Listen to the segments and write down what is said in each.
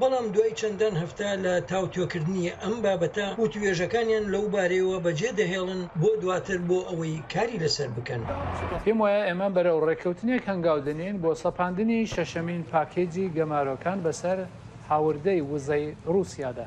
بەڵام دوای چەندان هەفتە لە تاوتوێکردنی ئەم بابەتە، وتووێژەکانیان لەو بارەیەوە بەجێ دەهێڵن بۆ دواتر بۆ ئەوەی کاری لەسەر بکەن. پێم وایە ئێمە بەرەو ڕێککەوتنێک هەنگاو دەنێین بۆ سەپاندنی شەشەمین پاکێجی گەمارۆکان بەسەر هاوردەی وزەی ڕووسیادا،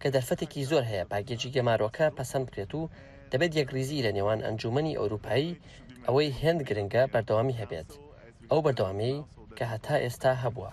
کە دەرفەتێکی زۆر هەیە پاکێجی گەمارۆکە پەسەند بکرێت و دەبێت یەکڕیزیی لە نێوان ئەنجوومەنی ئەورووپایی ئەوەی هێند گرنگە بەردەوامی هەبێت، ئەو بەردەوامییەی کە هەتا ئێستا هەبووە.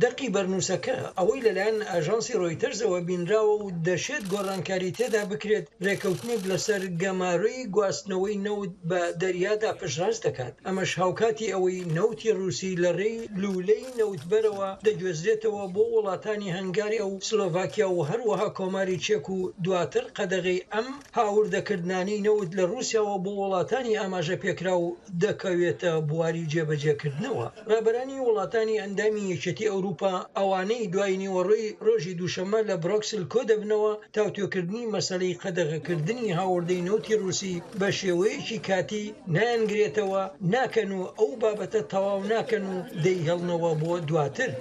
دەقی بەرنووسەکە، ئەوەی لەلایەن ئاژانسی ڕۆیتەرزەوە بینراوە و دەشێت گۆڕانکاری تێدا بکرێت، رێککەوتنێک لەسەر گەمارۆی گواستنەوەی نەوت بە دەریادا پشتڕاست دەکات، ئەمەش هاوکاتی ئەوەی نەوتی ڕووسی لە رێی لوولەی. کۆمپانیای نەوتبەرەوە دەگوێزرێتەوە بۆ وڵاتانی هەنگاریا و سلۆڤاکیا و هەروەها کۆماری چێک و دواتر قەدەغەی ئەم هاوردەکردنانەی نەوت لە ڕووسیاوە بۆ وڵاتانی ئاماژەپێکراو دەکەوێتە بواری جێبەجێکردنەوە. ڕابەرانی وڵاتانی ئەندامی یەکێتی ئەوروپا ئەوانەی دوای نیوەڕۆی ڕۆژی دووشەممە لە برۆکسل کۆدەبنەوە، تاوتوێکردنی مەسەلەی قەدەغەکردنی هاوردەی نەوتی ڕووسی بە شێوەیەکی کاتی نایانگرێتەوە، ناکەن و ئەو بابەتە تەواو ناکەن و دەیهێڵنەوە بۆ دواتر.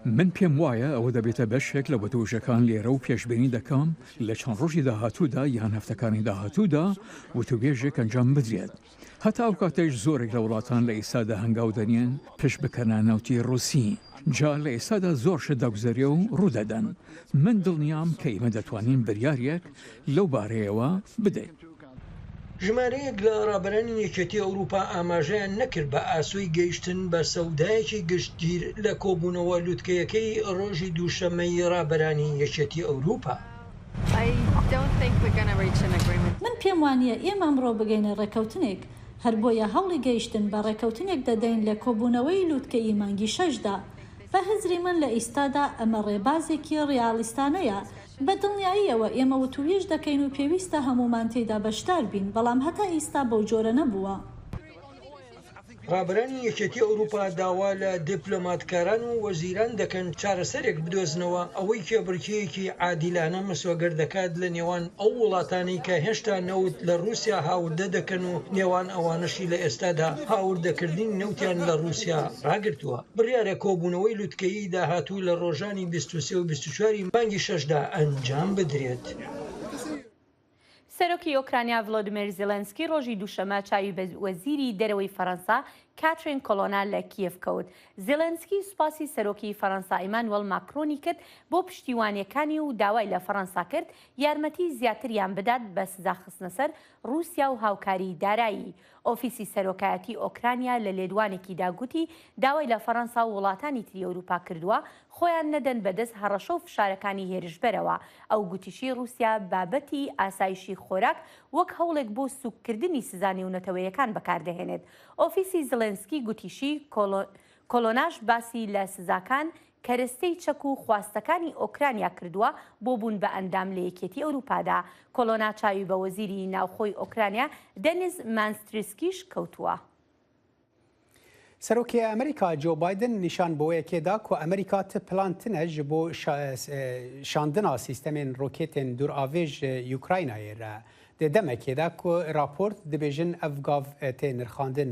من پێم وایە ئەوە دەبێتە بەشێک لە وتووێژەکان لێرە و پێشبینی دەکەم لە چەند ڕۆژی داهاتوودا یان هەفتەکانی داهاتوودا وتووێژێک ئەنجام بدرێت. هەتا ئەو کاتەیش زۆرێک لە وڵاتان لە ئیستادا هەنگاو دەنێن پشت بکەنە نەوتی ڕووسی جا لە ئیستادا زۆر شت دەگوزەرێ و ڕوو دەدەن من دڵنیام کە ئیمە دەتوانین بریاریەک لەو بارەیەوە بدەین. ژمارەیەک لە ڕابەرانی یەکێتی ئەوروپا ئاماژەیان نەکرد بە ئاسۆی گەیشتن بە سەودایەکی گشتگیر لە کۆبوونەوە لوتکەیەکەی ڕۆژی دووشەممەی ڕابەرانی یەکێتی ئەوروپا. من پێم وانییە ئێمە ئەمڕۆ بگەینە ڕێککەوتنێک، هەر بۆیە هەوڵی گەیشتن بە ڕێککەوتنێک دەدەین لە کۆبوونەوەی لووتکەیی مانگی شەشدا. بە هزری من لە ئیستادا ئەمە ڕێبازێکی ڕیالیستانەیە، بە دڵنیاییەوە ئێمە وتووێژ دەکەین و پێویستە هەموومان تێیدا بەشدار بین، بەڵام هەتا ئیستا بەو جۆرە نەبووە. ڕابەرانی یەکێتی ئەوروپا داوا لە دیپلۆماتکاران و وەزیران دەکەن چارەسەرێک بدۆزنەوە ئەوەی کێبڕکێیەکی عادیلانە مسۆگەر دەکات لە نێوان ئەو وڵاتانەی کە هێشتا نەوت لە ڕوسیا هاوردە دەکەن و نێوان ئەوانەشی لە ئێستادا هاوردەکردنی نەوتیان لە ڕوسیا ڕاگرتووە. بڕیارە کۆبوونەوەی لوتکەیی داهاتوو لە ڕۆژانی بیست و سێ و بیست و چوار ی مانگی شەشدا ئەنجام بدرێت. سەرۆکی ئۆکرانیا ڤلۆدیمێر زیلێنسکی ڕۆژی دووشەمە چاوی بە وەزیری دەرەوەی فەرەنسا کاترین کۆلۆنا لە کیێڤ کەوت. زیلێنسکی سوپاسی سەرۆکی فەرەنسا ئیمانوێڵ ماکرۆنی کرد بۆ پشتیوانییەکانی و داوای لە فەرەنسا کرد یارمەتی زیاتریان بدات بە سزاخستنەسەر ڕووسیا و هاوکاریی دارایی. ئۆفیسی سەرۆکایەتی ئۆکرانیا لە لێدوانێکیدا گوتی داوای لە فەرەنسا و وڵاتانی تری ئەوروپا کردووە خۆیان نەدەن بەدەست هەڕەشە و فشارەکانی هێرشبەرەوە، ئەو گوتیشی روسیا بابەتی ئاسایشی خۆراک وەک هەوڵێک بۆ سوککردنی سزا نێونەتەوەیەکان بەکاردەهێنێت. ئۆفیسی زلێنسکی گوتیشی کۆلۆناش باسی لە سزاکان کەرستەی چەک و خواستەکانی ئۆکرانیا کردووە بۆ بوون بە ئەندام لە یەکێتی ئەوروپادا. کۆڵۆنا چاوی بە وەزیری ناوخۆی ئۆکرانیا دەنیز مانستریسکیش کەوتووە. سەرۆکی ئەمریکا جۆ بایدن نیشان بۆیەکێ دا کو ئەمریکا ت پلانتنە ji بۆ شاندنا سیستەمێن رۆکێتێن دوورئاڤێ ji یوکراینایێ را. دێ دەمەکێ دا کو راپۆرت دبێژن ئەڤ گاڤ تێ نرخاندن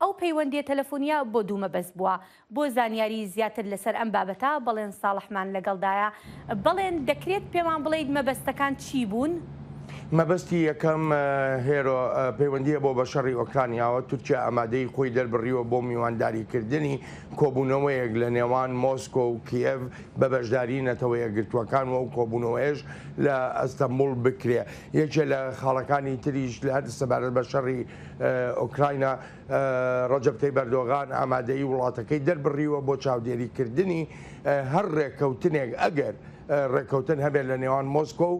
ئەو پەیوەندیە تەلەفۆنیە بۆ دوو مەبەست بووە. بۆ زانیاری زیاتر لەسەر ئەم بابەتە بەڵێن ساڵحمان لەگەڵدایە. بەڵێن دەکرێت پێمان بڵێیت مەبەستەکان چی بوون؟ مەبەستی یەکەم، هێرۆ، پەیوەندیە بۆ بە شەڕی ئۆکرانیاوە. تورکیا ئامادەیی خۆی دەربڕیوە بۆ میوانداریکردنی کۆبوونەوەیەک لە نێوان مۆسکۆ و کیێڤ بە بەشداری نەتەوە یەکگرتووەکان و ئەو کۆبوونەوەیەش لە ئەستەنبوڵ بکرێ. یەکێ لە خاڵەکانی تریش سەبارەت بە شەڕی ئۆکراینا، ڕەجەب تەیب ئەردۆغان ئامادەیی وڵاتەکەی دەربڕیوە بۆ چاودێریکردنی هەر ڕێککەوتنێک ئەگەر ڕێککەوتن هەبێت لە نێوان مۆسکۆ و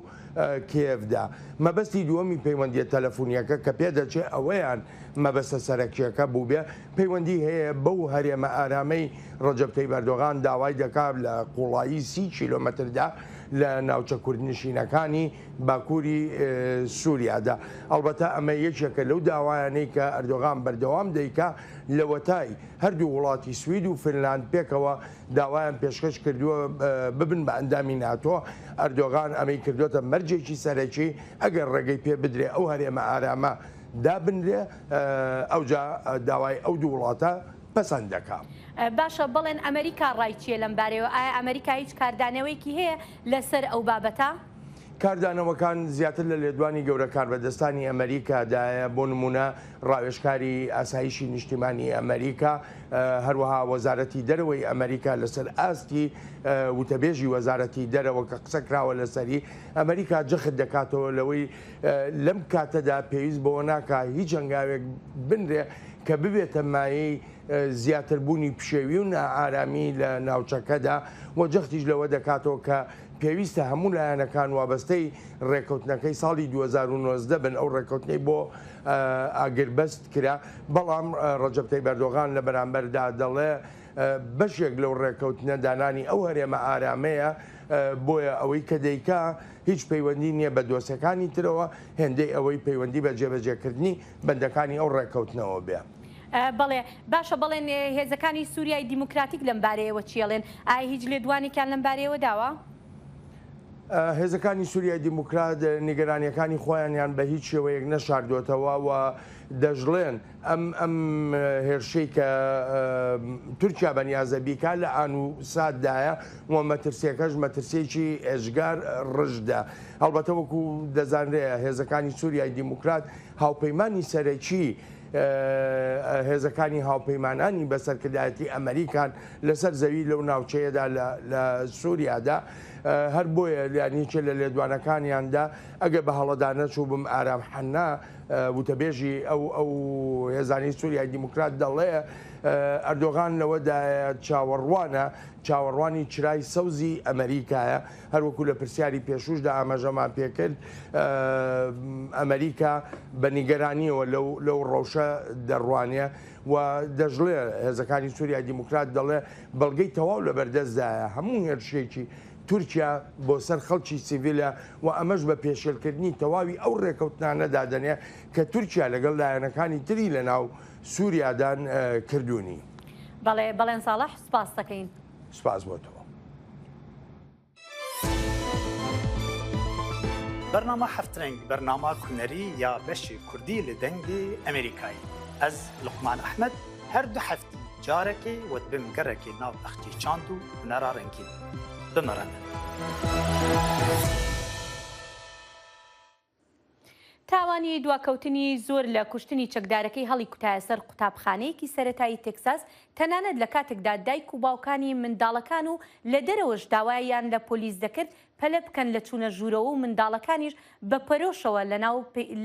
کیێڤدا. مەبەستی دووەمی پەیوەندییە تەلەفونییەکە کە پێدەچێ ئەوەیان مەبەستە سەرەکییەکە بووبێ، پەیوەندی هەیە بەو هەرێمە ئارامەی ڕەجەب تەیب ئەردۆغان داوای دەکا لە قووڵایی سی کیلۆمەتردا لە ناوچە کوردنشینەکانی باکووری سووریادا. ئەڵبەتە ئەمە یەکێکە لەو داوایانەی کە ئەردۆغان بەردەوام دەیکا، لەوەتای هەردوو وڵاتی سوید و فنلاند پێکەوە داوایان پێشکەش کردووە ببن بە ئەندامی ناتۆ، ئەردۆغان ئەمەی کردۆتە مەرجێکی سەرەکی، ئەگەر ڕێگەی پێ بدرێ ئەو هەرێمە ئارامە دابنرێ، ئەوجا داوای ئەو دوو وڵاتە پەسەند دەکا. باشە بەڵێن ئەمەریکا ڕای چییە لەم بارەیەوە؟ ئایا ئەمەریکا هیچ کاردانەوەیەکی هەیە لەسەر ئەو بابەتە. کاردانەوەکان زیاتر لە لێدوانی گەورە کاربەدەستانی ئەمەریکا دایە، بۆ نموونە ڕاوێژکاری ئاسایشی نیشتیمانی ئەمەریکا، هەروەها وەزارەتی دەرەوەی ئەمەریکا لەسەر ئاستی وتەبێژی وەزارەتی دەرەوە کە قسە کراوە لەسەری، ئەمەریکا جەخت دەکاتەوە لەوەی لەم کاتەدا پێویست بەوە ناکا هیچ هەنگاوێک بنرێ کە ببێتە مایەی زیاتر بوونی پشێوی و نائارامی لە ناوچەکەدا و جەختیش لەوە دەکاتەوە کە پێویستە هەموو لایەنەکان وابەستەی ڕێککەوتنەکەی ساڵی دوو هەزار و نۆزدە بن ئەو ڕێککەوتنەی بۆ ئاگربەست کرا بەڵام ڕەجەب تەیب ئەردۆغان لە بەرامبەردا دەڵێ بەشێک لەو ڕێککەوتنە دانانی ئەو هەرێمە ئارامەیە بۆیە ئەوەی کە دەیکا هیچ پەیوەندی نییە بە دۆسەکانی ترەوە هێندەی ئەوەی پەیوەندی بە جێبەجێکردنی بەندەکانی ئەو ڕێککەوتنەوە بێ. بەڵێ، باشە بەڵێن هێزەکانی سووریای دیموکراتیک لەم بارەیەوە چی ئەڵێن؟ ئایا هیچ لێدوانێکیان لەم بارەیەوە داوە؟ هێزەکانی سووریای دیموکرات نیگەرانییەکانی خۆیانیان بە هیچ شێوەیەک نەشاردووەتەوە و دەشڵێن ئەم ئەم هێرشەی کە تورکیا بەنیازە بیکا لە ئان و ساتدایە و مەترسیەکەش مەترسێکی ئێجگار ڕژدە هەڵبەتە وەکو دەزانرێ هێزەکانی سووریای دیموکرات هاوپەیمانی سەرەکی هێزەکانی هاوپەیمانانی بە سەرکردایەتی ئەمەریکان لەسەر زەوی لەو ناوچەیەدا لە سووریادا هەر بۆیە یانیکە لە لێدوانەکانیاندا ئەگە بە هەڵەدا نەچوو بم ئارام حەننا وتەبێژی ئەو ئەو هێزانی سووریای دیموکرات دەڵێ ئەردۆغان لەوەدا چاوەڕوانە چاوەڕوانی چرای سەوزی ئەمەریکایە هەروەکو لە پرسیاری پێشووشدا ئاماژەمان پێکرد، ئەمەریکا بە نیگەرانییەوە لەو ڕەوشە دەڕوانێ و دەشڵێ، هێزەکانی سوریای دیموکرات دەڵێ بەڵگەی تەواو لەبەردەستدایە هەموو هێرشێکی تورکیا بۆ سەر خەڵکی سیڤیلە و ئەمەش بە پێشێلکردنی تەواوی ئەو ڕێکەوتنانە دادەنێ کە تورکیا لەگەڵ لایەنەکانی تری لەناو سوریادان کردوونی. بەڵێ بەڵێن ساڵح سوپاستەکەین. سپاس بۆ تۆ. بەرنامە هەفت رەنگ بەرنامە کونەری یا بەشی کوردی لە دەنگی ئەمریکایی ئەز لقمان ئەحمد هەر دو هەفتی جارەکەی وەت بم گەڕێکی ناو بەختی چاند و هونەرا رەنگین بمەڕەن. تاوانی دواکەوتنی زۆر لە کوشتنی چەکدارەکەی هەڵیکوتایە سەر قوتابخانەیەکی سەرەتایی تێکساس، تەنانەت لە کاتێکدا دایک و باوکانی منداڵەکان و لە دەرەوەش داوایان لە پۆلیس دەکرد پەلە بکەن لە چوونە ژوورەوە و منداڵەکانیش بە پەرۆشەوە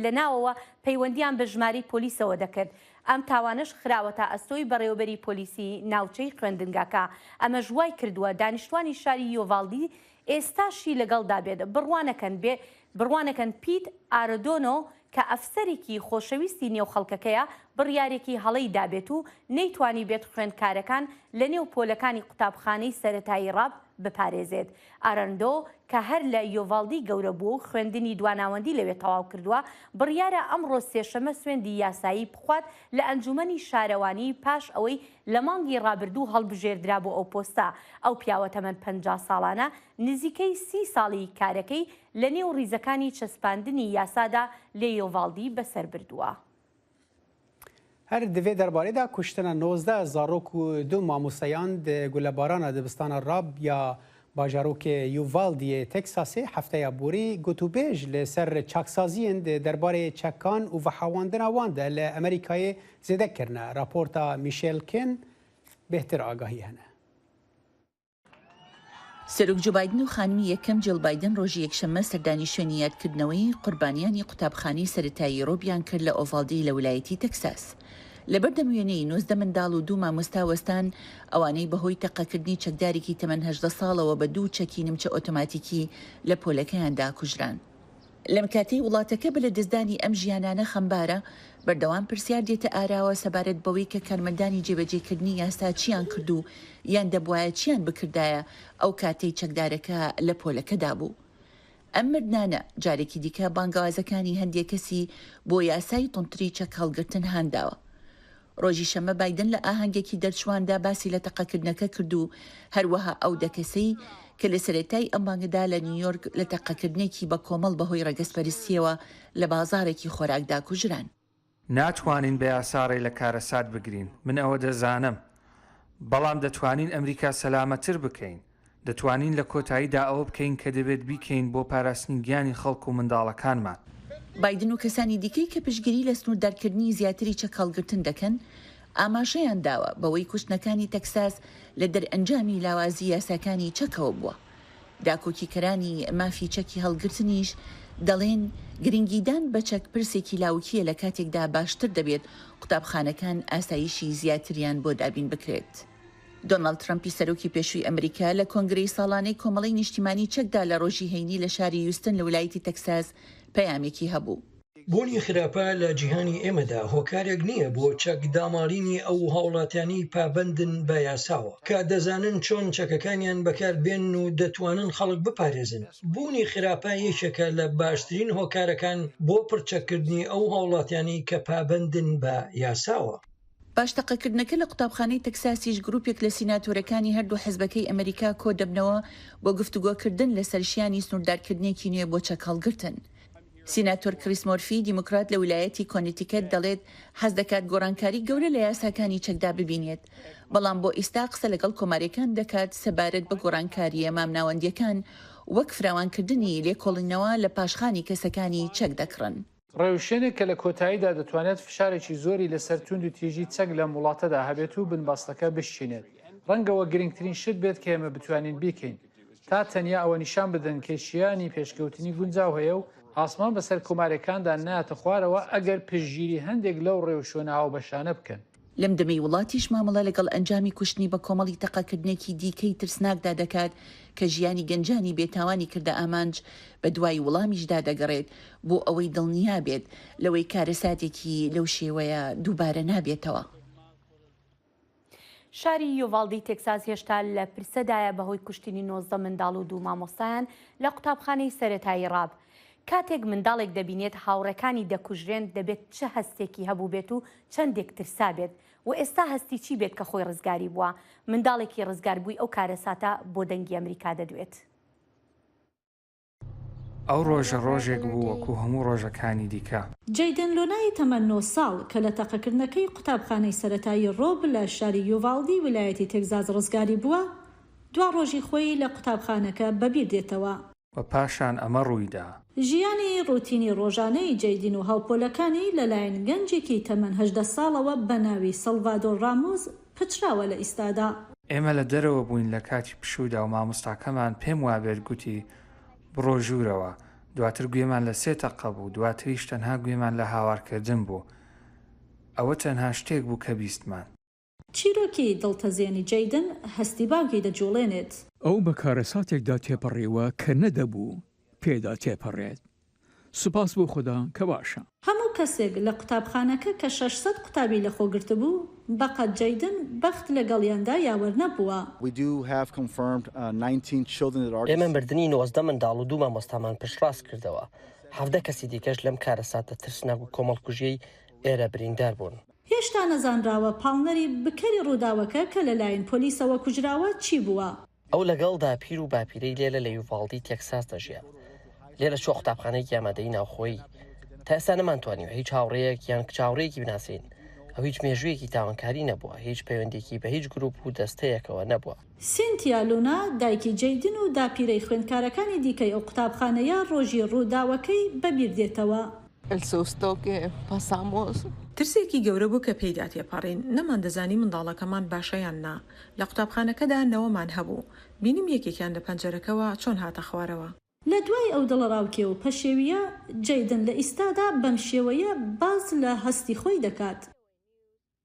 لە ناوەوە پەیوەندییان بە ژمارەی پۆلیسەوە دەکرد. ئەم تاوانەش خراوەتە ئەستۆی بەڕێوەبەری پۆلیسی ناوچەی خوێندنگاکە، ئەمەش وایکردووە دانیشتوانی شاری یۆڤاڵدی ئێستاشی لەگەڵدا بێت، بڕوا نەکەن بێ بڕوا نەکەن پیت ئارەدۆنۆ کە ئەفسەرێکی خۆشەویستی نێو خەڵکەکەیە، بڕیارێکی هەڵەی دابێت و نەیتوانیبێت خوێندکارەکان لەنێو پۆلەکانی قوتابخانەی سەرەتایی ڕاب بپارێزێت. ئاراندۆ کە هەر لە یۆڤاڵدی گەورە بووە و خوێندنی دواناوەندی لەوێ تەواو کردووە، بڕیارە ئەمڕۆ سێشەممە سوێندی یاسایی بخوات لە ئەنجوومەنی شارەوانی پاش ئەوەی لە مانگی ڕابردوو هەڵبژێردرا بۆ ئەو پۆستە، ئەو پیاوە تەمەن پەنجا ساڵانە نزیکەی سی ساڵی کارەکەی لە نێو ڕیزەکانی چەسپاندنی یاسادا لێ یۆڤاڵدی بەسەر بردووە. هەر دڤێ دەربارەیدا کوشتنە نۆزدە زاڕۆک و دو ماموسەیاند گولەبارانا دبستانا ڕاب یا باژاروکێ یوڤال دیێ تێکساسێ هەفتەێ ئابووری گوتوبێژ لە سەر چاکسازیێن دە دەربارێ چەکان و ڤەحاواندنا وان دە لە ئەمریکاێ زێدە کرنە. راپۆرتا میشێل کێن بێهتر ئاگاهی هەنە. سەرۆک جۆ بایدن و خانمی یەکەم جیڵ بایدن ڕۆژی یەکشەممە سەردانی شوێنی یادکردنەوەی قوربانیانی قوتابخانەی سەرەتایی ڕۆبیان کرد لە ئۆڤاڵدی لە ولایەتی تەکساس. لەبەردەم وێنەی نۆزدە منداڵ و دوو مامۆستا وەستان، ئەوانەی بەهۆی تەقەکردنی چەکدارێکی تەمەن هەژدە ساڵەوە بە دوو چەکی نمچە ئۆتۆماتیکی لە پۆلەکەیاندا کوژران. لەم کاتەی وڵاتەکە بە لەدەستدانی ئەم ژیانانە خەمبارە، بەردەوام پرسیار دێتە ئاراوە سەبارەت بەوەی کە کارمەندانی جێبەجێکردنی یاسا چییان کرد و یان دەبوایە چییان بکردایە ئەو کاتەی چەکدارەکە لە پۆلەکەدا بوو. ئەم مردنانە جارێکی دیکە بانگەوازەکانی هەندێک کەسی بۆ یاسای توندتری چەک هەڵگرتن هانداوە. ڕۆژی شەممە بایدن لە ئاهەنگێکی دەرچوواندا باسی لە تەقەکردنەکە کرد و هەروەها ئەو دە کەسەی کە لە سەرەتای ئەم مانگەدا لە نیویۆرک لە تەقەکردنێکی بەکۆمەڵ بەهۆی ڕەگەزپەرستییەوە لە بازاڕێکی خۆراکدا کوژران، ناتوانین بە یاسا ڕێ لە کارەسات بگرین، من ئەوە دەزانم. بەڵام دەتوانین ئەمریکا سەلامەتتر بکەین. دەتوانین لە کۆتاییدا ئەوە بکەین کە دەبێت بیکەین بۆ پاراستنی گیانی خەڵک و منداڵەکانمان. بایدن و کەسانی دیکەی کە پشتگیری لە سنووردارکردنی زیاتری چەکهەڵگرتن دەکەن، ئاماژەیان داوە بەوەی کوشتنەکانی تەکساس لە دەرئەنجامی لاوازی یاساکانی چەکەوە بووە. داکۆکیکەرانی مافی چەکی هەڵگرتنیش دەڵێن، گرنگیدان بە چەک پرسێکی لاوکییە لە کاتێکدا باشتر دەبێت قوتابخانەکان ئاسایشی زیاتریان بۆ دابین بکرێت. دۆناڵد ترەمپی سەرۆکی پێشووی ئەمریکا لە کۆنگرەی ساڵانەی کۆمەڵەی نیشتیمانی چەکدا لە ڕۆژی هەینی لە شاری یوستن لە ویلایەتی تەکساس پەیامێکی هەبوو. بوونی خراپە لە جیهانی ئێمەدا هۆکارێک نییە بۆ چەک داماڵینی ئەو هاوڵاتیانی پابەندن بە یاساوە کە دەزانن چۆن چەکەکانیان بەکار بێنن و دەتوانن خەڵک بپارێزن بوونی خراپە یەکێکە لە باشترین هۆکارەکان بۆ پڕچەککردنی ئەو هاوڵاتیانی کە پابەندن بە یاساوە. پاش تەقەکردنەکە لە قوتابخانەی تەکساسیش گروپێک لە سیناتۆرەکانی هەردوو حزبەکەی ئەمەریکا کۆدەبنەوە بۆ گفتوگۆکردن لەسەر شیانی سنوردارکردنێکی نوێ بۆ چەک هەڵگرتن. سیناتۆر کریس مۆرفی دیموکرات لە ولایەتی کۆنیتیکەت دەڵێت حەزدەکات گۆڕانکاری گەورە لە یاساکانی چەکدا ببینێت بەڵام بۆ ئیستا قسە لەگەڵ کۆمارەکان دەکات سەبارەت بە گۆڕانکارییە مامناوەندیەکان وەک فراوانکردنی لێکۆڵینەوە لە پاشخانی کەسەکانی چەک دەکڕن. ڕێوشوێنێک کە لە کۆتاییدا دەتوانێت فشارێکی زۆری لەسەر توند و تیژی چەک لەم وڵاتەدا هەبێت و بنبەستەکە بشچینێت ڕەنگەوە گرنگترین شت بێت کە ئێمە بتوانین بیکەین تا تەنیا ئەوە نیشان بدەن کە شیانی پێشکەوتنی گونجاو هەیە و ئاسمان بەسەر کۆمارەکاندا نایەتە خوارەوە ئەگەر پشتگیری هەندێک لەو ڕێوشوێنە هاوبەشانە بکەن. لەم دەمەی وڵاتیش مامەڵە لەگەڵ ئەنجامی کوشتنی بەکۆمەڵی تەقەکردنێکی دیکەی ترسناکدا دەکات کە ژیانی گەنجانی بێتاوانی کردە ئامانج، بەدوای وڵامیشدا دەگەڕێت بۆ ئەوەی دڵنیا بێت لەوەی کارەساتێکی لەو شێوەیە دووبارە نابێتەوە. شاری یوڤاڵدی تێکساس هێشتا لە پرسەدایە بەهۆی کوشتنی نۆزدە منداڵ و دوو مامۆستایان لە قوتابخانەی سەرەتایی ڕاب. کاتێک منداڵێک دەبینێت هاوڕێکانی دەکوژرێن دەبێت چ هەستێکی هەبووبێت و چەندێک ترسابێت و ئێستا هەستی چی بێت کە خۆی ڕزگاری بووە، منداڵێکی ڕزگاربووی ئەو کارەساتە بۆ دەنگی ئەمریکا دەدوێت. ئەو ڕۆژە ڕۆژێک بوو وەکو هەموو ڕۆژەکانی دیکە. جەیدن لۆنای تەمەن نۆ ساڵ کە لە تەقەکردنەکەی قوتابخانەی سەرەتایی ڕۆب لە شاری یوڤاڵدی ویلایەتی تێگزاس ڕزگاری بووە، دوا ڕۆژی خۆی لە قوتابخانەکە بەبیر دێتەوە. و پاشان ئەمە ڕوویدا. ژیانی ڕوتینی ڕۆژانەی جەیدین و هاوپۆلەکانی لەلایەن گەنجێکی تەمەن هەژدە ساڵەوە بە ناوی سەڵڤادۆر ڕامۆس پچراوە لە ئیستادا. ئێمە لە دەرەوە بووین لە کاتی پشوودا و مامۆستاکەمان پێم وابێت گوتی، بڕۆ ژوورەوە. دواتر گوێمان لە سێ تەقە بوو، دواتریش تەنها گوێمان لە هاوارکردن بوو. ئەوە تەنها شتێک بوو کە بیستمان. چیرۆکی دڵتەزێنی جەیدن هەستی باوکی دەجوڵێنێت. ئەو بە کارەساتێکدا تێپەڕیوە کە نەدەبوو پێدا تێپەڕێت. سوپاس بۆ خودا کە باشە. هەموو کەسێک لە قوتابخانەکە کە شەش سەد قوتابی لەخۆ گرتبوو، بەقەد جەیدن بەخت لەگەڵیاندا یاوەر نەبووە. ئێمە مردنی نۆزدە منداڵ و دوو مامۆستامان پشتڕاست کردەوە، حەڤدە کەسی دیکەش لەم کارەساتە ترسناک و کۆمەڵکوژیەی ئێرە بریندار بوون. هێشتا نەزانراوە پاڵنەری بکەری ڕووداوەکە کە لەلایەن پۆلیسەوە کوژراوە چی بووە. ئەو لەگەڵ داپیر و باپیرەی لێرە لە یوڤاڵدی تێکساس دەژیا. لێرە چووە قوتابخانەیەکی ئامادەیی ناوخۆیی. تا ئێستا نەمانتوانیوە هیچ هاوڕێیەک یان کچ هاوڕێیەکی بناسێین. ئەو هیچ مێژوویەکی تاوانکاری نەبووە، هیچ پەیوەندییەکی بە هیچ گرووپ و دەستەیەکەوە نەبووە. سینتیا لونا، دایکی جەیدن و داپیرەی خوێندکارەکانی دیکەی ئەو قوتابخانەیە ڕۆژی ڕووداوەکەی بەبیردێتەوە. ئێل سوستۆ کێ پاسامۆس. ترسێکی گەورە بوو کە پێیدا تێپەڕین، نەماندەزانی منداڵەکەمان باشە یان نا. لە قوتابخانەکەدا نەوەمان هەبوو. بینیم یەکێکیان لە پەنجەرەکەوە چۆن هاتە خوارەوە. لە دوای ئەو دڵەڕاوکێ و پەشێوییە، جەیدن لە ئیستادا بەمشێوەیە باس لە هەستی خۆی دەکات.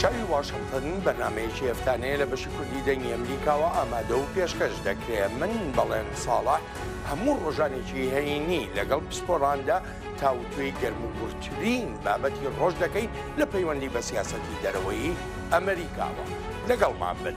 چاوی واشنتن بەرنامەیەکی هەفتانەیە لە بەشی کوردی دەنگی ئەمریکاوە ئامادە و پێشکەش دەکرێ من بەڵێن ساڵە هەموو ڕۆژانێکی هەینی لەگەڵ پسپۆراندا تاوتوێی گەرم و گورترین بابەتی ڕۆژ دەکەین لە پەیوەندی بە سیاسەتی دەرەوەی ئەمریکاوە لەگەڵمان بن.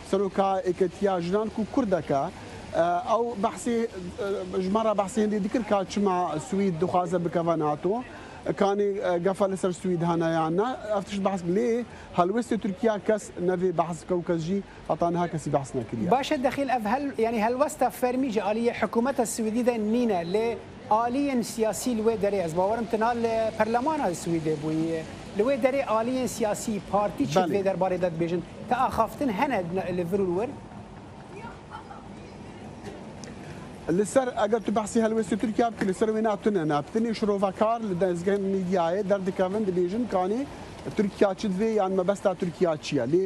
سەرۆکا یکەتیا ژنان کو کوردەکە ئەو بەحسی ژمارە بەحسی هندی دکر کا چما سوید دخوازە بکەوە ناتۆ کانی گەفە لەسەر سوید هەنە یان نە ئەفتش بەحس لێ هەلوێستی تورکیا کەس نەێ بەحس کە و کەس ژی هەتا نها کەسی بەحس نەکریا. باشە دەخیل ئەڤ هەل یانی هەلوەستە فەرمی جە ئالی یە حکومەتە سویدی دە نینە لێ، ئالیین سیاسی لوێ دەرێ ئەز باوەرم تنها لە پەرلەمانا سویدێ بوی لوێ دەرێ ئالیین سیاسی پارتی چێت بەلی. لێ دەربارەی دەت بێژن ک ئاخافتن هەنە لە ڤرون ور؟ لسەر ئەگەر تو بەحسی هەلوێستی تورکیا بکی لسەر وینا تونە ناپتنی شرۆڤەکار لە دەزگە میدیایێ دەردکەفن دبیژن کانی تورکیا چ دبێ یان مەبەستا تورکیا چیە لێ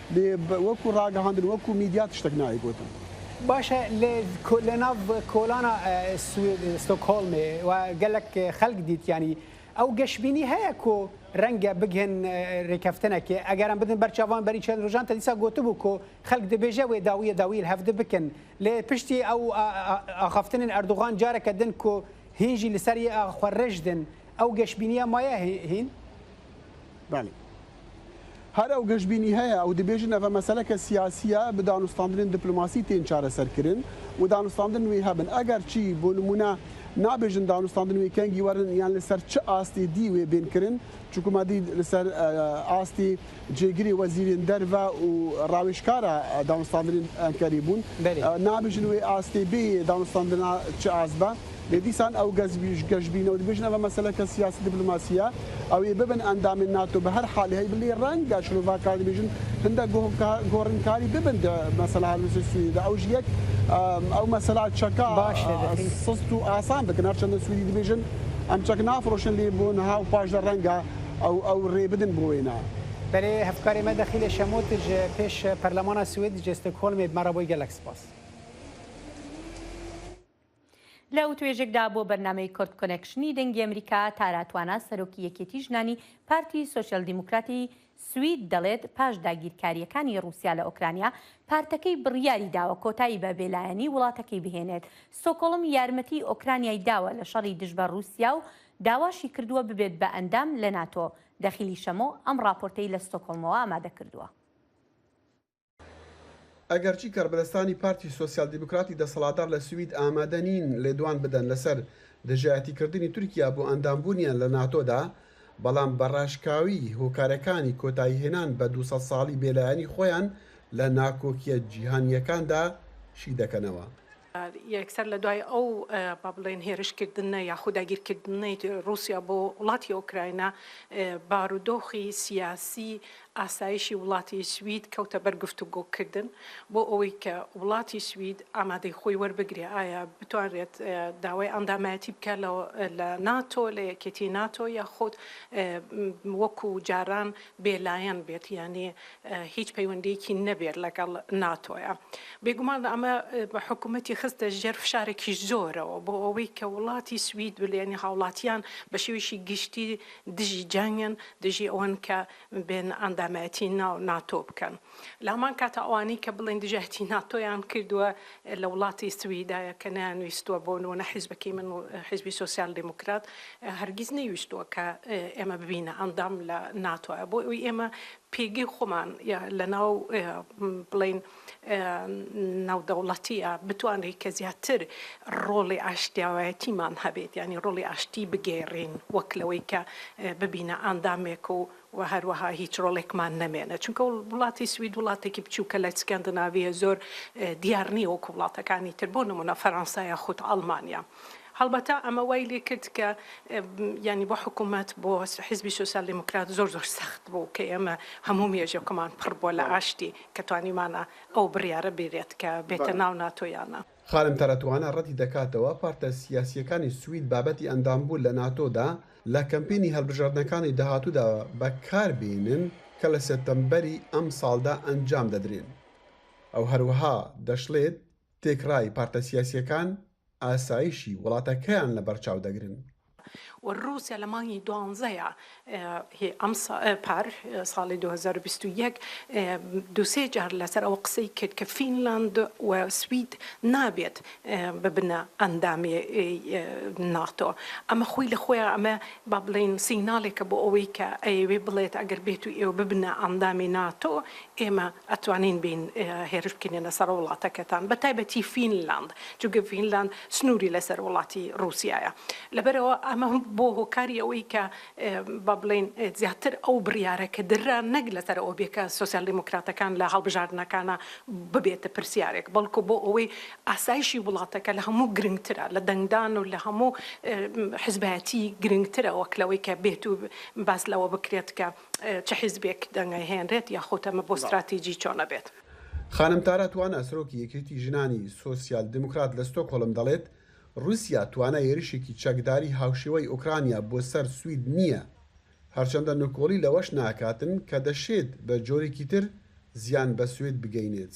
وەکو ڕاگەهاندن وەکو میدیا تشتەک نایە گۆتن. باشە لە ناڤ کۆلانا سوید ستۆکهۆلمێ و گەلەک خەلک دیت یانی ئەو گەشبینی هەیە کۆ رەنگە بگهن رێکەفتنەکێ ئەگەرم بدن بەرچاڤان بەری چەن روژان تە دیسا گۆتبوو کۆ خەلک دبێژە وێ داویە داویل هەڤدە بکن لێ پشتی ئەو ئاخەفتنن ئەردوغان جارەکە دن کۆ هینژی لسەر یێ ئاخوەررژدن ئەو گەشبینیە مایە هین؟ بەلی هەر ئەو گەشبینی هەیە ئەو دبێژن ئەڤە مەسەلە کە سیاسیە بە دانوستاندنێن دپلۆماسی تێن چارەسەر کرن و دانوستاندن نوێ هەبن ئەگەر چی بۆ نموونە نابێژن دانوستاندن وێ کەنگی وەرن یان لە سەر چ ئاستی دی وێ بێن کرن چونکو ما دی لە سەر ئاستی جێگری وەزیرێن دەرڤە و ڕاوێژکارە دانوستاندنێن ئەنکەری بوون نابێژن وێ ئاستی بێ دانوستاندنا چ ئاست بە لێ دیسان ئەو گەشبینە و بژنە بە مەسەلە کە سیاسی دبلۆماسیە ئەوێ ببن ئەندامێن ناتۆ بە هەر حالی هەی بلی ڕەنگە شرۆڤاکار بێژن هەندە گۆڕنکاری ببن مەسەلا هەلوسی سووریدا ئەو ژیەک ئەو مەسەلا چەکە باش سست و ئاسان بکەن هەرچەندە سووری دبێژن ئەم چەک نافرۆشن لێ بوون ها و پاشدا ڕەنگە ئەو ئەو ڕێ بدن بۆ وێنە. بەێ هەفکارێ مە دەخیلە شەمۆتژ پێش پەرلەمانە سوێد جێستە کۆلمێ بمەڕە بۆی گەلەک سپاس. لە وتوێژێکدا بۆ بەرنامەی کورد کۆنێکشنی دەنگی ئەمریکا، تارا توانا، سەرۆکی یەکێتی ژنانی پارتی سۆسیال دیموکراتی سوید دەڵێت پاش داگیرکارییەکانی ڕووسیا لە ئۆکرانیا، پارتەکەی بڕیاری داوە کۆتایی بە بێلایەنی وڵاتەکەی بهێنێت. ستۆکۆڵم یارمەتیی ئۆکرانیای داوە لە شەڕی دژ بە ڕووسیا و داواشی کردووە ببێت بە ئەندام لە ناتۆ. دەخیلی شەمۆ ئەم ڕاپۆرتەی لە ستۆکۆڵمەوە ئامادە کردووە. ئەگەرچی کاربەدەستانی پارتی سۆسیال دیموکراتی دەسەڵاتدار لە سوید ئامادە نین لێدوان بدەن لەسەر دژایەتیکردنی تورکیا بۆ ئەندامبوونیان لە ناتۆدا، بەڵام بە ڕاشکاوی هۆکارەکانی کۆتاییهێنان بە دوو سەد ساڵی بێلایەنی خۆیان لە ناکۆکییە جیهانییەکاندا شیدەکەنەوە. یەکسەر لە دوای ئەو با بڵێین هێرشکردنە یاخود داگیرکردنەی ڕووسیا بۆ وڵاتی ئۆکراینا، بارودۆخی سیاسی ئاسایشی وڵاتی سوید کەوتە بەر گفتوگۆکردن بۆ ئەوەی کە وڵاتی سوید ئامادەی خۆی وەربگرێ ئایا بتوانرێت داوای ئەندامایەتی بکات لە ناتۆ لە یەکێتی ناتۆ یاخود وەکوو جاران بێلایەن بێت یانی هیچ پەیوەندیەکی نەبێت لەگەڵ ناتۆیە بێگومان ئەمە بە حکوومەتی خستە ژێر فشارێکی زۆرەوە بۆ ئەوەی کە وڵاتی سوید بلێنی هاوڵاتیان بە شێویشی گشتی دژی جەنگن دژی ئەوەن کە بێن ئەندامەتی ناو ناتۆ بکەن. لە هەمان کاتا ئەوانەی کە بڵێن دژایەتی ناتۆیان کردووە لە وڵاتی سویدایە کە نەیانویستووە بۆ نموونە حیزبەکەی من و حیزبی سۆسیال دیموکرات هەرگیز نەیویستووە کە ئێمە ببینە ئەندام لە ناتۆە بۆ ئەوی ئێمە پێگەی خۆمان لە ناو بڵین ناودەوڵەتیە بتوانێت کە زیاتر ڕۆڵی ئاشتیاوایەتیمان هەبێت ینی ڕۆڵی ئاشتی بگێڕین وەک لەوەی کە ببینە ئاندامێک و و هەروەها هیچ ڕۆڵێکمان نەمێنێت، چونکە وڵاتی سوید وڵاتێکی بچووکە لە ئیسکەندناڤییە، زۆر دیار نییە وەکو وڵاتەکانی تر، بۆ نموونە فەرەنسا یاخود ئەڵمانیا. هەڵبەتە ئەمە وای لێ کرد کە یانی بۆ حکوومەت، بۆ حیزبی سۆسیال دیموکرات زۆر زۆر سەخت بوو کە ئێمە هەموو مێژووەکەمان پڕ بووە لە ئاشتی کە توانیمانە ئەو بڕیارە بێرێت کە بێتە ناو ناتۆ یان نا. خانم تەرەتوانە ڕەتی دەکاتەوە پارتە سیاسییەکانی سوید بابەتی ئەندامبوون لە ناتۆدا لە کەمپینی هەڵبژاردنەکانی داهاتوودا بەکاربێنن کە لە سێپتەمبەری ئەمساڵدا ئەنجام دەدرێن و هەروەها دەشڵێت تێکڕای پارتە سیاسییەکان ئاسایشی وڵاتەکەیان لەبەرچاو دەگرن. و ڕووسیا لە مانگی دوانزەیا ی ئەم سا پار، ساڵی دوو هەزار و بیست و یەک، دوو سێ جار لەسەر ئەوە قسەی کرد کە فینلاند و سوید نابێت ببنە ئەندامی ناتۆ. ئەمە خۆی لە خۆیا ئەمە با بڵێین سیناڵێکە بۆ ئەوەی کە ئەیەوێ بڵێت ئەگەر بێتو ئێوە ببنە ئەندامی ناتۆ ئێمە ئەتوانین بێین هێرش بکەینە سەر وڵاتەکەتان بە تایبەتی فینلاند چونکە فینلاند سنووری لەسەر وڵاتی ڕووسایە لەبەرەوە ئەمە بۆ هۆکاری ئەوەی کە با بڵێین زیاتر ئەو بڕیارە کە دررا نەک لەسەر ئەو بێ کە سۆسیال دیموکراتەکان لە هەڵبژاردنەکانە ببێتە پرسیارێک بەڵکو بۆ ئەوەی ئاسایشی وڵاتەکە لە هەموو گرنگترە لە دەنگدان و لە هەموو حزبایەتی گرنگترە وەک لەوەی کە بێت و باس لەوە بکرێت کە چ حیزبێک دەنگە هێنرێت یاخود ئەمە بۆ ستراتیجی چۆنە بێت. خانم تارا توانا سەرۆکی یەکێتی ژنانی سۆسیال دیموکرات لە ستۆکهۆلم دەڵێت، روسیا توانای هێرشێکی چەکداری هاوشێوەی ئۆکرانیا بۆ سەر سوید نییە، هەرچەندە نکۆڵی لەوەش ناکاتن کە دەشێت بە جۆرێکی تر زیان بە سوید بگەینێت.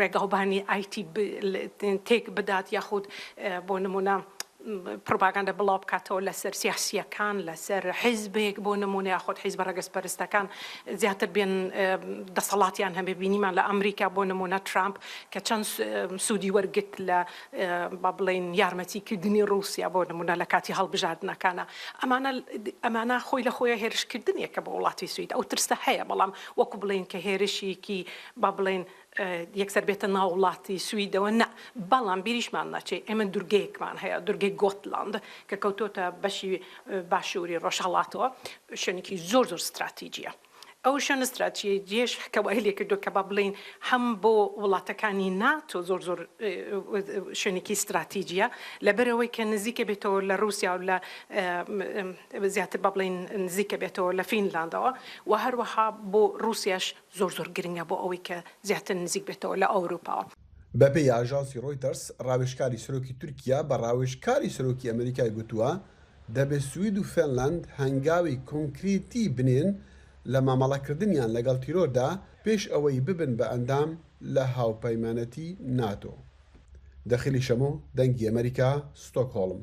ڕێگاوبانی ئایتی تێک بدات یاخود بۆ نمونە پرۆپاگاندە بڵاو بکاتەوە لەسەر سیاسییەکان لەسەر حیزبێک بۆ نمونە یاخود حیزبە ڕەگەزپەرستەکان زیاتر بێن دەسەڵاتیان هەبێ بینیمان لە ئەمریکا بۆ نمونە ترامپ کە چەند سوودی وەرگرت لە با بڵێن یارمەتیکردنی ڕووسیا بۆ نمونە لە کاتی هەڵبژاردنەکانە ئەمانە ئەمانە خۆی لە خۆیان هێرشکردنێکە بۆ وڵاتی سوید ئەو ترسە هەیە بەڵام وەکو بڵێین کە هێرشێکی با بڵێین یەکسەر بێتە ناو وڵاتی سویدەوە نا، بەڵام بیریشمان نەچێ ئێمە دورگەیەکمان هەیە، دورگەی گۆتلاند کە کەوتۆتە بەشی باشووری ڕۆژهەڵاتەوە، شوێنێکی زۆر زۆر ستراتیجییە. ئەو شوێنە ستراتیجییەش کە وای لێ کردووە کە با بڵێین هەم بۆ وڵاتەکانی ناتۆ زۆر زۆر شوێنێکی ستراتیجییە، لەبەرئەوەی کە نزیکە بێتەوە لە ڕووسیا و لە زیاتر با بڵێین نزیکە بێتەوە لە فینلاندەوە و هەروەها بۆ ڕووسیاش زۆر زۆر گرنگە بۆ ئەوەی کە زیاتر نزیک بێتەوە لە ئەوروپا. بەپێی ئاژانسی ڕۆیتەرز، ڕاوێژکاری سەرۆکی تورکیا بە ڕاوێژکاری سەرۆکی ئەمریکای گوتووە، دەبێت سوید و فێنلاند هەنگاوی کۆنکرێتی بنێن لە مامەڵەکردنیان لەگەڵ تیرۆردا پێش ئەوەی ببن بە ئەندام لە هاوپەیمانەتی ناتۆ. دەخیلی شەمۆ، دەنگی ئەمەریکا، ستۆکهۆڵم.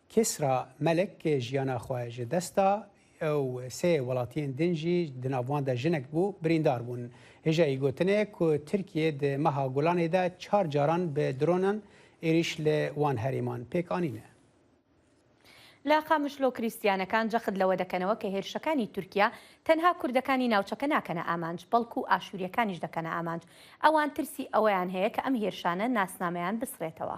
کیسرا مەلک ک ژیانا خوەی ژە دەستا ئەو سێ وەڵاتیێن دن ژی، دە ناڤوان دە ژنەک بۊ بریندار بۊن. هیژا ئی گوتنێ ک ترکیه د مەها گولانێ دە چار جاران بە درۆنان ئیریش لە وان هەرێمان پێک ئانینە. لە قامشلۆ کریستیانەکان جەخت لەوە دەکەنەوە ک هێرشەکانی تورکیا تەنها کوردەکانی ناوچەکە ناکەنە ئامانج بەڵکو ئاشوریەکانیش دەکەنە ئامانج ئەوان ترسی ئەوەیان هەیە ک ئەم هێرشانە ناسنامەیان بسڕێتەوە.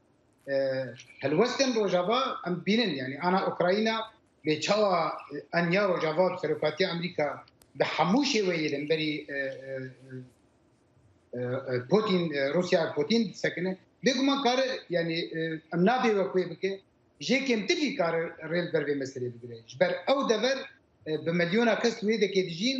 هەلوەستێن ڕۆژاڤا ئەم بینن یعنی ئانا ئۆکراینا لێ چاوە ئەنیا ڕۆژاڤا سەرۆکاتی ئەمریکا بە هەموو شێوەیە لەمبەری پۆتین رووسیا پۆتین سەکنە بێگومان کارە ینی ئەم نابێ وە کوێ بکە ژێ کێمتری کارە ڕێل بەرێ مەسەرێ بگرێت بەر ئەو دەبەر بە ملیۆنا کەس وێ دەکێ دژین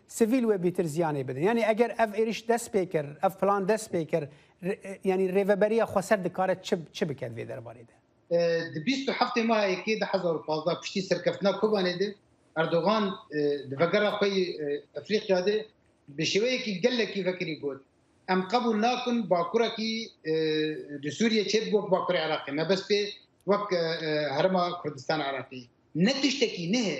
سڤیل وە بیتر زیانێ بدن یانی ئەگەر ئەڤ ئێریش دەس پێ کر ئەڤ پلان دەس پێ کر یانی رێڤەبەریە خوەسەر دکارە چ چ بکەد ڤێ دەربارەی دە؟ د بیست و هەفتێ ماه یەکێ دە هەزار و پازدە پشتی سەرکەفتنا کۆبانێ د ئەردۆغان د ڤەگەرا خوەی ئەفریقیا د بە شێوەیەکی گەلەکی ڤەکری گۆت، ئەم قەبول ناکن باکورەکی د سوریە چێ بوەک باکوری عراقی مەبەست پێ وەک هەرما کوردستان عراقی نە تشتەکی نهێ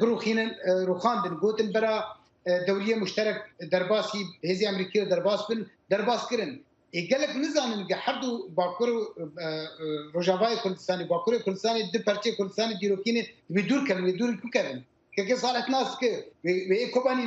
بڕوخینن ڕوخاندن گوتن بەرا دەولیە مشتەرەک دەرباسی هێزی ئەمریکی و دەرباس بن دەرباسکردن گەلک نزانن گە هەردوو باکوور و ڕژاوای کوردستانی باکووری کوردستانی دو پەرچی کوردستانی دیرۆکینی دوور کەن دوور بکەن کەکە ساڵت ناس کرد کۆبانی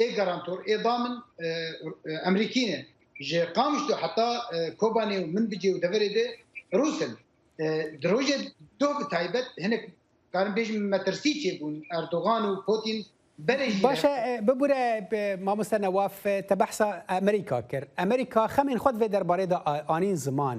ئێ گەرانتۆر ئێ با من ئەمریکینێ ژێ قامشت و حتا کۆبانێ و من بجێ و دەبەرێ دێ رووسن درۆژێ دۆ تایبەت هەنێک کارم بێژ مەترسی چێ بوون ئەردۆغان و پۆتین باشە ببورە مامۆستا نەواف تە بەحسا ئەمریکا کرد ئەمریکا خەمین خۆت بێ دەربارەیدا ئاین زمان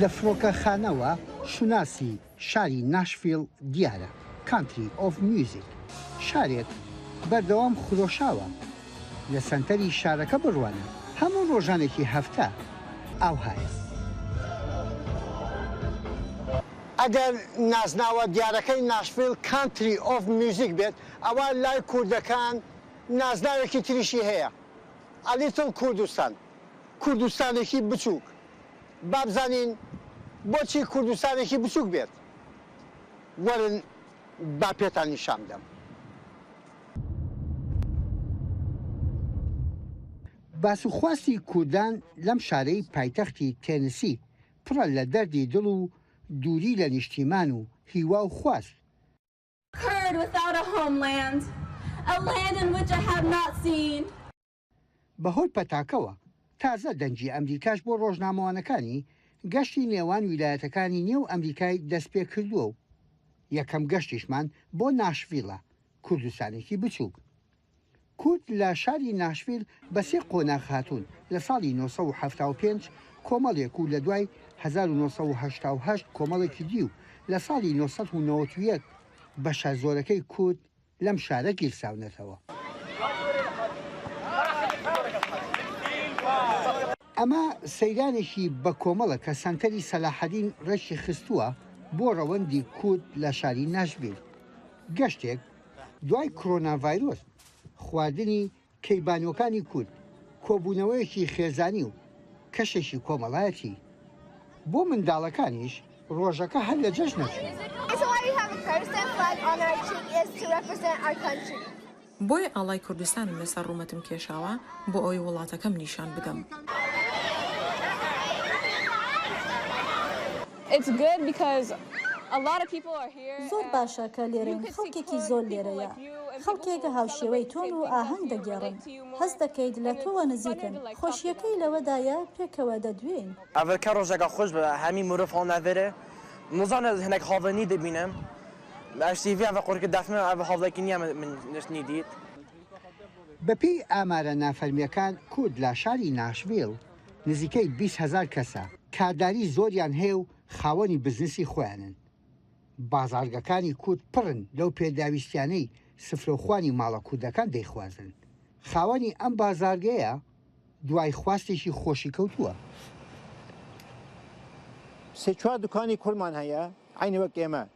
لە فڕۆکەخانەوە شوناسی شاری ناشفیڵ دیارە Country of Music شارێک بەردەوام خرۆشاوە لە سەنتەری شارەکە بڕوانە هەموو ڕۆژانێکی هەفتە ئاوهایە. ئەگەر نازناوە دیارەکەی ناشفیڵ Country of Music بێت ئەوا لای کوردەکان نازناوێکی تریشی هەیە A Little Kurdistan. کوردستانێکی بچووک، با بزانین بۆچی کوردستانێکی بچووک بێت، وەرن با پێتان نیشان بدەم. باس و خواستی کوردان لەم شارەی پایتەختی تێنسی پڕە لە دەردی دڵ و دووری لە نیشتیمان و هیوا و خواست. Kurd without a homeland, a land in which I have not seen. بەهۆی پەتاکەوە، تازە دەنگی ئەمریکاش بۆ ڕۆژنامەوانەکانی گەشتی نێوان ویلایەتەکانی نێو ئەمریکای دەستپێکردووە و یەکەم گەشتیشمان بۆ ناشڤیلە، کوردستانێکی بچووک. کورد لە شاری ناشڤیل بە سێ قۆناغ هاتوون، لە ساڵی نۆ سەد و حەفتا و پێنج کۆمەڵێک و لە دوای هەزار و نۆ سەد و هەشتا و هەشت کۆمەڵێکی دی و لە ساڵی نۆ سەد و نەوەد و یەک بەشە زۆرەکەی کورد لەم شارە گیرساونەتەوە. ئەمە سەیرانێکی بەکۆمەڵە کە سەنتەری سەلاحەدین ڕێکی خستووە بۆ ڕەوەندی کورد لە شاری ناشڤیل. گەشتێک دوای کڕۆناڤایرۆس، خواردنی کەیبانوەکانی کورد کۆبوونەوەیەکی خێزانی و کەشێکی کۆمەڵایەتی بۆ منداڵەکانیش ڕۆژەکە هەر لە جەژنە چوو. بۆیە ئاڵای کوردستانم لەسەر ڕوومەتم کێشاوە بۆ ئەوەی وڵاتەکەم نیشان بدەم. زۆر باشە کە لێرەین خەڵکێکی زۆر لێرەیە خەڵکێک هاوشێوەی تۆن و ئاهەنگ دەگێڕن هەست دەکەیت لە تۆوە نزیکن خۆشیەکەی لەوەدایە پێکەوە دەدوێین. ئەڤل کە ڕۆژەکە خۆش بێ هەمی مروڤ هەڵ ناڤێرێ مزان ئەز هەنێک هاڤڵێ نی دبینم ئەژ سی ڤی ئەڤ قورکە دافنن ئەڤ هاڤڵێ کی نیا من نشت نی دیت. بەپێی ئامارە نافەرمییەکان کورد لە شاری ناشڤیل نزیکەی بیست هەزار کەسە، کارداری زۆریان هەیە و خاوەنی بزنسی خۆیانن. بازاڕگەکانی کورد پڕن لەو پێداویستیانەی سفرەوخوانی ماڵە کوردەکان دەیخوازن. خاوەنی ئەم بازاڕگەیە دوای خواستێکی خۆشی کەوتووە. سێ چوار دوکانی کوردمان هەیە عەینی وەک ئێمە.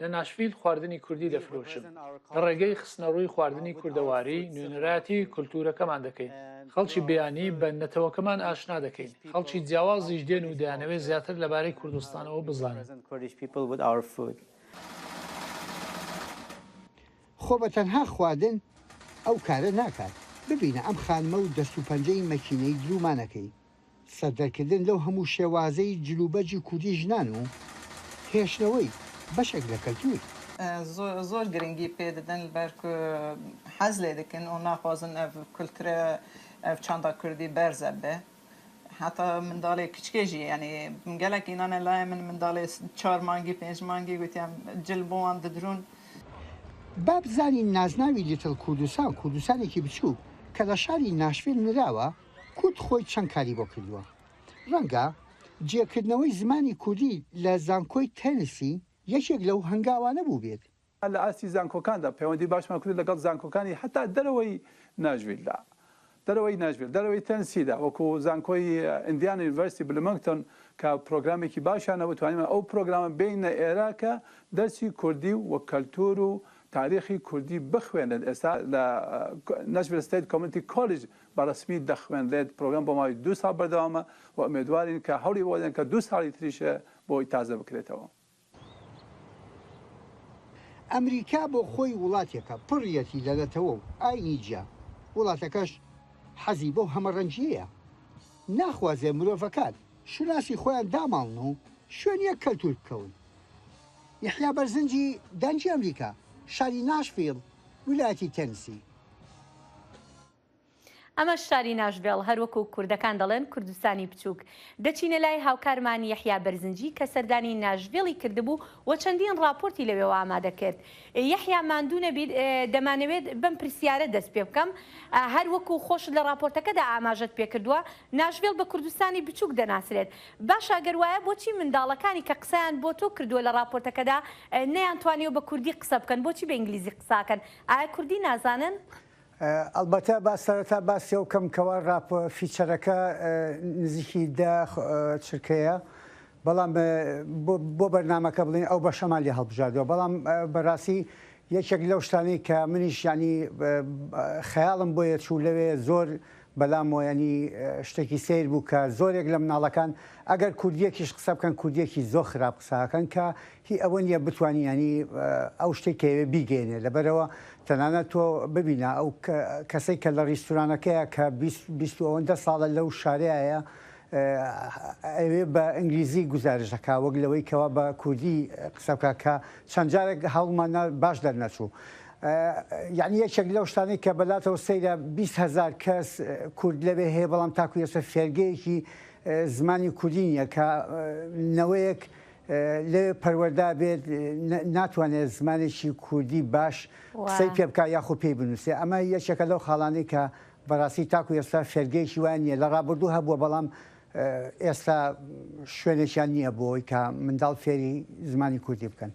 لە ناشڤیل خواردنی کوردی دەفرۆشم. لە ڕێگەی خستنەڕووی خواردنی کوردەواری، نوێنەرایەتی کولتوورەکەمان دەکەین. خەڵکی بیانی بە نەتەوەکەمان ئاشنا دەکەین. خەڵکی جیاوازیش دێن و دەیانەوێت زیاتر لەبارەی کوردستانەوە بزانن. خۆ بە تەنها خواردن ئەو کارە ناکات. ببینە ئەم خانمە و دەست و پەنجەی مەکینەی دروومانەکەی. سەردەرکردن لەو هەموو شێوازەی جلوبەرگی کوردی ژنان و هێشتنەوەی بەشێک لە کەلتوور. زۆر گرنگی پێ ددن بەرکو حەز لێ دکن و ناخوازن ئەڤ کولترە ئەڤ چاندا کوردی بەرزە بێ هەتا منداڵێ کچکێ ژی یانی گەلەک ئینانە لایە من منداڵێ چار مانگی پێنج مانگی گوتیان جل بۆوان ددرون با بزانین نازناوی لیتڵ کوردستان کوردستانێکی بچووک کە لە شاری ناشفیل نراوە، کورد خۆی چەند کاری بۆ کردووە؟ ڕەنگە جێکردنەوەی زمانی کوردی لە زانکۆی تێنسی یەکێک لەو هەنگاوانە بووبێت. لە ئاستی زانکۆکاندا پەیوەندی باشمان کردووە لەگەڵ زانکۆکانی هەتا دەرەوەی ناشڤیلدا، دەرەوەی ناشڤیل، دەرەوەی تێنسیدا، وەکو زانکۆی ئیندیانا یونیڤەرسیتی بلومێنگتۆن کە پرۆگرامێکی باشیان هەبوو، توانیمان ئەو پرۆگرامە بێینە ئێرە کە دەرسی کوردی و کەلتوور و تاریخی کوردی بخوێنن، ئێستا لە ناشڤیل ستەیت کۆمێنتی کۆلیج بە ڕەسمی دەخوێنرێت، پرۆگرام بۆ ماوەی دوو ساڵ بەردەوامە و ئومێدوارین کە هەوڵی ئەوە دەدەن کە دوو ساڵی تریش بۆی تازە بکرێتەوە. ئەمریکا بۆ خۆی وڵاتێکە پڕیەتی لە نەتەوە و ئاینی جیا، وڵاتەکەش حەزی بەو هەمەڕەنگیەیە، ناخوازێ مرۆڤەکان شوناسی خۆیان داماڵن و شوێن یەک کەلتور بکەون. یەحیا بەرزنجی دەنگی ئەمریکا، شاری ناشڤیل، ویلایەتی تێنسی. ئەمە شاری ناشڤێڵ، هەر وەکو کوردەکان دەڵێن کوردستانی بچووک. دەچینە لای هاوکارمان یەحیا بەرزنجی کە سەردانی ناشڤێڵی کردبوو و چەندین ڕاپۆرتی لەوێوە ئامادە کرد. یەحیا ماندوو نەبیت، دەمانەوێت بەم پرسیارە دەست پێ بکەم، هەر وەکو خۆشت لە ڕاپۆرتەکەدا ئاماژەت پێ کردووە، ناشڤێڵ بە کوردستانی بچووک دەناسرێت. باشە گەر وایە بۆچی منداڵەکانی کە قسەیان بۆ تۆ کردووە لە ڕاپۆرتەکەدا نەیانتوانیوە بە کوردی قسە بکەن، بۆچی بە ئینگلیزی قسە ئەکەن؟ ئایا کوردی نازانن؟ ئەڵبەتە با سەرەتا باسی ئەوە بکەم کەوا ڕاپ فیچەرەکە نزیکی دە چرکەیە بەڵام بۆ بەرنامەکە بڵێن ئەو بەشەمان لێ هەڵبژاردووە بەڵام بەڕاستی یەکێک لەو شتانەی کە منیش ینی خەیاڵم بۆ یەچوو لەوێ زۆر بەلام ینی شتێکی سیر بوو کە زۆرێک لە مناڵەکان ئەگەر کوردیەکیش قسە بکەن کوردیەکی زۆر خراپ قساکەن کە هی ئەوە نیە بتوانی یانی ئەو شتەی کە ئەوێ بیگەیەنێ لەبەرئەوە تەنانەت تۆ ببینە ئەو کەسەی کە لە ڕیستورانەکەیە کە بیست بیست و ئەوەندە ساڵە لەو شارەیایە ئەوێ بە ئینگلیزی گوزارش دەکا وەک لەوەی کەوا بە کوردی قسە بکا کە چەند جارێک هەوڵمان نا باش دەرنەچوو یعنی یەکێک لەو شتانەی کە بەلاتەوە سەیرە بیست هەزار کەس کورد لەوێ هەیە بەڵام تاکو یەسە فێرگەیەکی زمانی کوردی نیە کە نەوەیەک لێ پەروەردا بێت ناتوانێت زمانێکی کوردی باش قسەی پێ بکات یاخو پێی بنووسێ ئەمە یەکێکە لەو خاڵانەی کە بەڕاستی تاکو ئێستا فێرگەیەکی وای نییە لە ڕابردوو هەبووە بەڵام ئێستا شوێنێکیان نییە بۆی کە منداڵ فێری زمانی کوردی بکەن.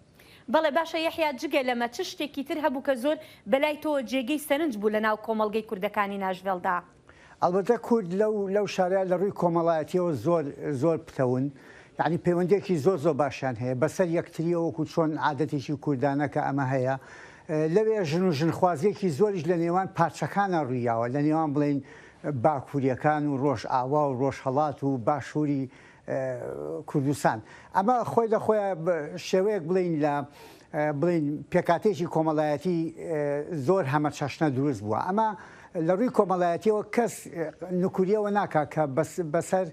بەڵێ باشە یەحیا جگە لەمە چ شتێکی تر هەبوو کە زۆر بەلای تۆوە جێگەی سەرنج بوو لەناو کۆمەڵگەی کوردەکانی ناشڤێڵدا؟ ئەڵبەتە کورد لەو لەو شارە لە ڕووی کۆمەڵایەتیەوە زۆر زۆر پتەون یانی پەیوەندیەکی زۆر زۆر باشیان هەیە بەسەر یەکتریەوە وەکو چۆن عادەتێکی کوردانە کە ئەمە هەیە لەوێ ژن و ژنخوازیەکی زۆریش لە نێوان پارچەکانە ڕوویاوە لە نێوان بڵێن باکووریەکان و ڕۆژئاوا و ڕۆژهەڵات و باشووری کوردستان. ئەمە خۆی لە خۆیا بە شێوەیەک بڵێین لە بڵێین پێکاتێکی کۆمەڵایەتی زۆر هەمە چەشنە دروست بووە. ئەمە لە ڕووی کۆمەڵایەتیەوە کەس نکوریەوە ناکا کە بەسەر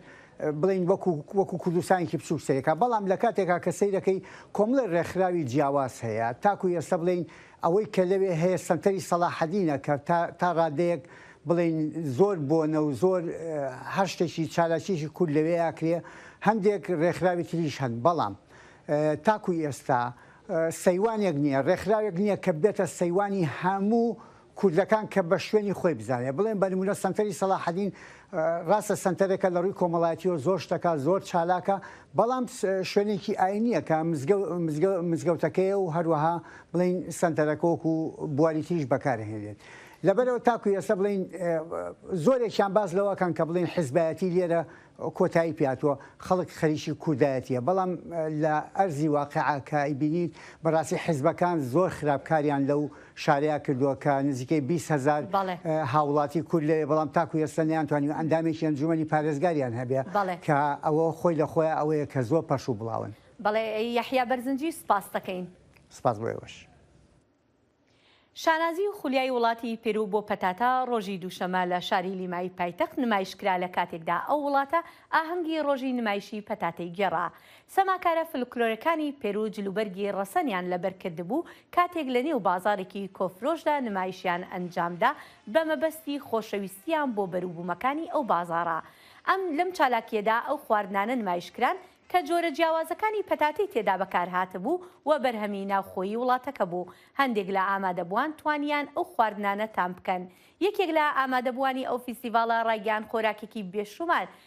بڵین وەکو وەکو کوردستانێکی بچوک سەیرەکە بەڵام لە کاتێکا کە سەیرەکەی کۆمەڵی ڕێکخراوی جیاواز هەیە تاکو ئێستا بڵین ئەوەی کە لەوێ هەیە سەنتەری سەڵاحەدینە کە تا ڕادەیەک بڵێین زۆر بۆنە و زۆر هەر شتێکی چالاکیەکی کورد لەوێ ئەکرێ هەندێک ڕێکخراوی تریش هەن بەڵام تاکوی ئێستا سەیوانێک نییە ڕێکخراوێک نییە کە بێتە سەیوانی هەموو کوردەکان کە بە شوێنی خۆی بزانێ بڵێن بە نمونە سەنتەری سەڵاحەدین ڕاستە سەنتەرێکە لە ڕووی کۆمەڵایەتیەوە زۆر شتەکە زۆر چالاکە بەڵام شوێنێکی ئاینیە کە مزگەوتەکەیە و هەروەها بڵین سەنتەرەکۆک و بواری تریش بەکارهێنێت لەبەرەوە تاکو ئێستا بڵین زۆرێکیان باز لەوەکەن کە بڵین حزبایەتی لێرە کۆتایی پیاتوە خەڵک خەریکی کوردایەتیە بەڵام لە ئەرزی واقعکە بینیت بەڕاستی حزبەکان زۆر خراپکاریان لەو شاریا کردووە کە نزیکەی بیست هەزار بەڵێ. هاووڵاتی کورد لەوێ بەڵام تاکو ئێستا نەیانتوانیوە ئەندامێکی ئەنجوومەنی پارێزگاریان هەبێ بەڵێ. کە ئەوە خۆی لە خۆیا ئەوەیە کە زۆر پەرش و بڵاون. بەڵێ یەحیا بەرزنجی سپاست دەکەین. سپاس بۆ ئێوەش. شانازی و خولیای وڵاتی پێرو بۆ پەتاتە ڕۆژی دووشەمە لە شاری لیمای پایتەخت نمایشکرا لە کاتێکدا ئەو وڵاتە ئاهەنگی ڕۆژی نمایشی پەتاتەی گێڕا سەماکارە فلکلۆرەکانی پێرو جلوبەرگی ڕەسەنیان لەبەر کردبوو، کاتێک لە نێو بازاڕێکی کۆفرۆشدا نمایشیان ئەنجامدا بە مەبەستی خۆشەویستییان بۆ بەروبوومەکانی ئەو بازاڕە. ئەم لەم چالاکییەدا ئەو خواردنانە نمایش کران کە جۆرە جیاوازەکانی پەتاتەی تێدا بەکار هاتبوو و بەرهەمی ناوخۆیی وڵاتەکە بوو. هەندێک لە ئامادەبووان توانییان ئەو خواردنانە تام بکەن. یەکێک لە ئامادەبووانی ئەو فیستیڤاڵە ڕایگەیاند خۆراکێکی بێشومار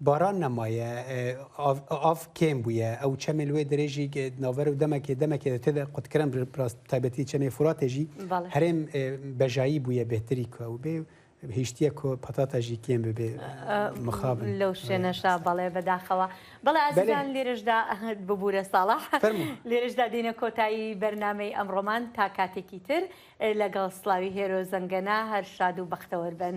باران نەمایە ئاڤ کێم بووە ئەو چەمێ لێ درێژی ناوەر و دەمەکێ دەمەکێ تێ قوتکرم ڕاست تایبەتی چەمێ فراتێژی هەرێم بەژایی بووە بهتری کە و بێ هیشتە کۆ پەتاتەژی کێم ببێ مخاب لەو شوێنەشا بەڵێ بەداخەوە بەڵێ ئازان لێرشدا ببوورە ساڵە لێرشدا دینە کۆتایی بەرنمەی ئەمڕۆمان تا کاتێکی تر لەگەڵ سلاوی هێرۆ زەنگەنە هەر شاد و بەختەوەربن.